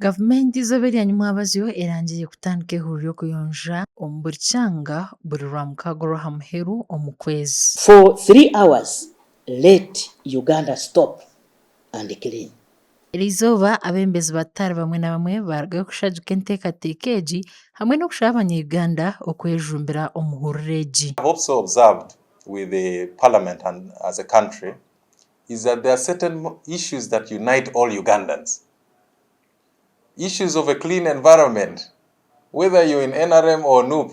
Gavumenti eizooba erya nyimwabazyo erangire kutandika eihuriro ry'okuyonja omu buri kyanga buri Rwamukaaga orw'aha muheru omu kwezi. For three hours let Uganda stop and clean. Eri izooba abembezi ba Taal bamwe na bamwe baarugayo kushajuka enteekateeka egi hamwe n'okushaba abanya-Uganda okwejumbira omu huriro egi. I have also observed with the parliament and as a country is that there are certain issues that unite all Ugandans. Issues of a clean environment, whether you're in NRM or Nup,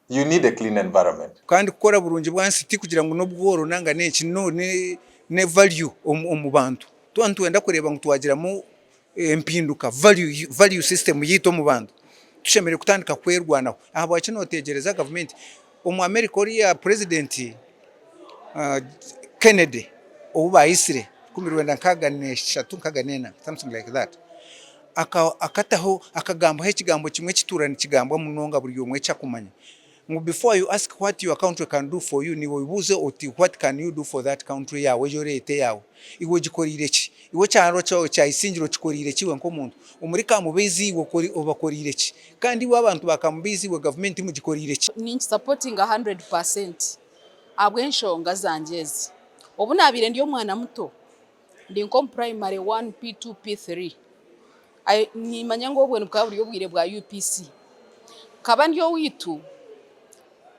you need a clean environment. Kandi kukora burungi bwansi ti kugira ngu n'obworo nanga n'enki, no, ne value omu bantu. Tuba nitwenda kureeba ngu twagiramu empinduka, value, value system, yaitu omu bantu, tushemereire kutandika kwerwanaho. Ahabwaki noteegyereza gavumenti? Omu America oriya president Kennedy ou baitsire rukumi rwenda nkaaga n'eshatu, nkaaga n'ena, something like that, akataho, akagambaho ekigambo kimwe ekituura nikigambwa munonga buri omwe eki akumanya. Ngu before you ask what your country can do for you, niiwe oibuuze oti what can you do for that country yaawe egi oreeta eyaawe? Iwe ogikoreire ki? Iwe ekyanga kyaawe kya Isingiro okikoreire ki iwe nk'omuntu? Omuri Kamubeizi iwe obakoreire ki? Kandi iwe abantu ba Kamubeizi iwe gavumenti mugikoreire ki? Ninkisapotinga hundred percent ahabw'enshonga zangye ezi obu naabaire ndi omwana muto. Ndi nk'omu primary one, P2, P3. Nimanya ngu obwe nibukaba buri obwire bwa UPC. Nkaba ndi owaitu,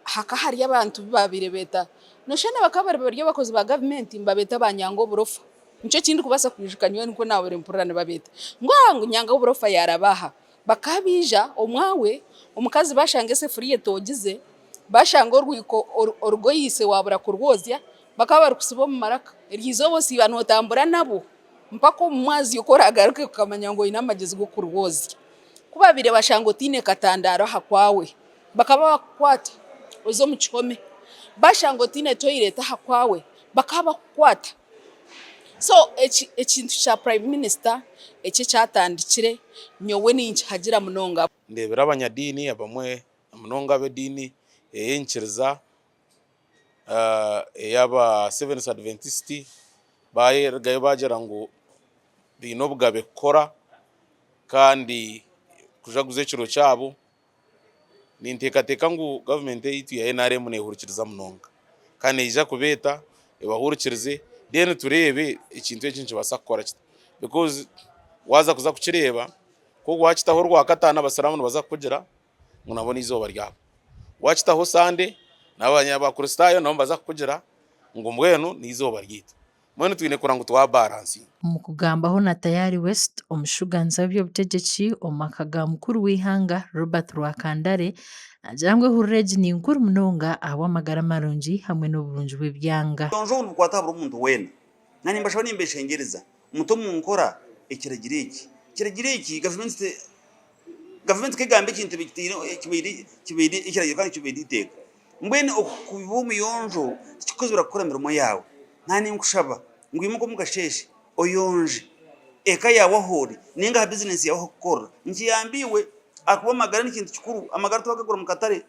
hakaba hariyo abantu abu baabaire beeta, noshusha ngu bakaba bari abakozi ba gavumenti nibabeeta ba Nyangoburofa. Nikyo eki ndikubaasa kwijuka nyowe nikwo naabaire mpurira nibabeeta. Ngu aa ngu Nyangoburofa yaaraba aha. Bakaba baija omwawe, omukazi baashanga esefuriya etoogize, baashanga orwiko oru orugoyeise waabura kurwozya, Bakaba barikusiba omu maraka. Eryo izooba osiiba nootambura nabo mpaka omu mwazyo ku oraagaruke kukamanya ngu oine amagezi g'okurwoozya. Ku baabaire bashanga otaine katandaaro aha kwawe, bakaba bakukwata oze omu kihome. Baashanga otaine toilet aha kwawe, bakaba bakukwata. So ekintu kya prime minister eki ekyatandikire nyowe ninkihagira munonga. Ndeebire abanyadiini abamwe, namunonga ab'ediini ey'enyikiriza. eyaba Seventh Adventist barugayo bagira ngu baine obugabe kukora kandi kujaguza ekiro kyabo. Ninteekateeka ngu government yaitu ya NRM nehurikiriza munonga kandi neija kubeeta ebahurikirize then tureebe ekintu eki nikibaasa kukora kita because waza kuza kukireeba ku wakitaho orwakatano abasiramu nibaza kukugira. ngu nabo n'eizooba ryabo. Waakitaho Sande, n'Abakristaayo nabo nibaza kukugira ngu mbwenu n'eizooba ryaitu. Mbwenu twine kurora ngu twabaransinga. Omu kugambaho na Tayari West, omushuuganzi w'eby'obutegyeki omu maka ga mukuru w'eihanga Robert Rwakandare naagira ngu ehurira egi ni nkuru munonga ahabw'amagara marungi hamwe n'oburungi bw'ebyanga. Obuyonjo obu nibukwata aha buri muntu weena. Na nimbashaba nimbeshengyereza mute omu nkora ekiragiro eki. Ekiragiro eki, Gavumenti Gavumenti ku egamba ekintu kibaire ekiragiro kandi kibaire eiteeka. Mbwenu okuba omuyonjo tikikukuzibira kukora emirimo yaawe. Naaba ninkushaba ngu imuka omu kasheeshe oyonje eka yaawe ahu ori nainga aha bizineesi yaawe ahu orikukorera. Nikiyamba iwe ahakuba amagara n'ekintu kikuru, amagara tiwagagura omu katare.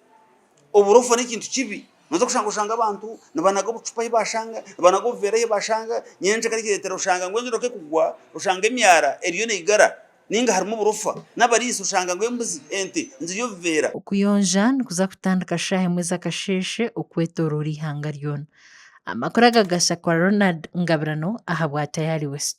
Oburofa n'ekintu kibi, nooza kushanga oshanga abantu nibanaga obucupa ahi baashanga, nibanaga obuveera ahi baashanga, nyenkya kare kireetera oshanga ngu enju eriho ekugwa, oshanga emyara eriyo neigara. Ninga harimu oburofa n'abariisa oshanga ngu embuzi, ente, nizirya obuveera. Okuyonja nikuza kutandika shaaha emwe z'akasheeshe okwetoroora eihanga ryona. Amakuru aga gashya kwa Ronald Ngabirano ahabwa Tayari West.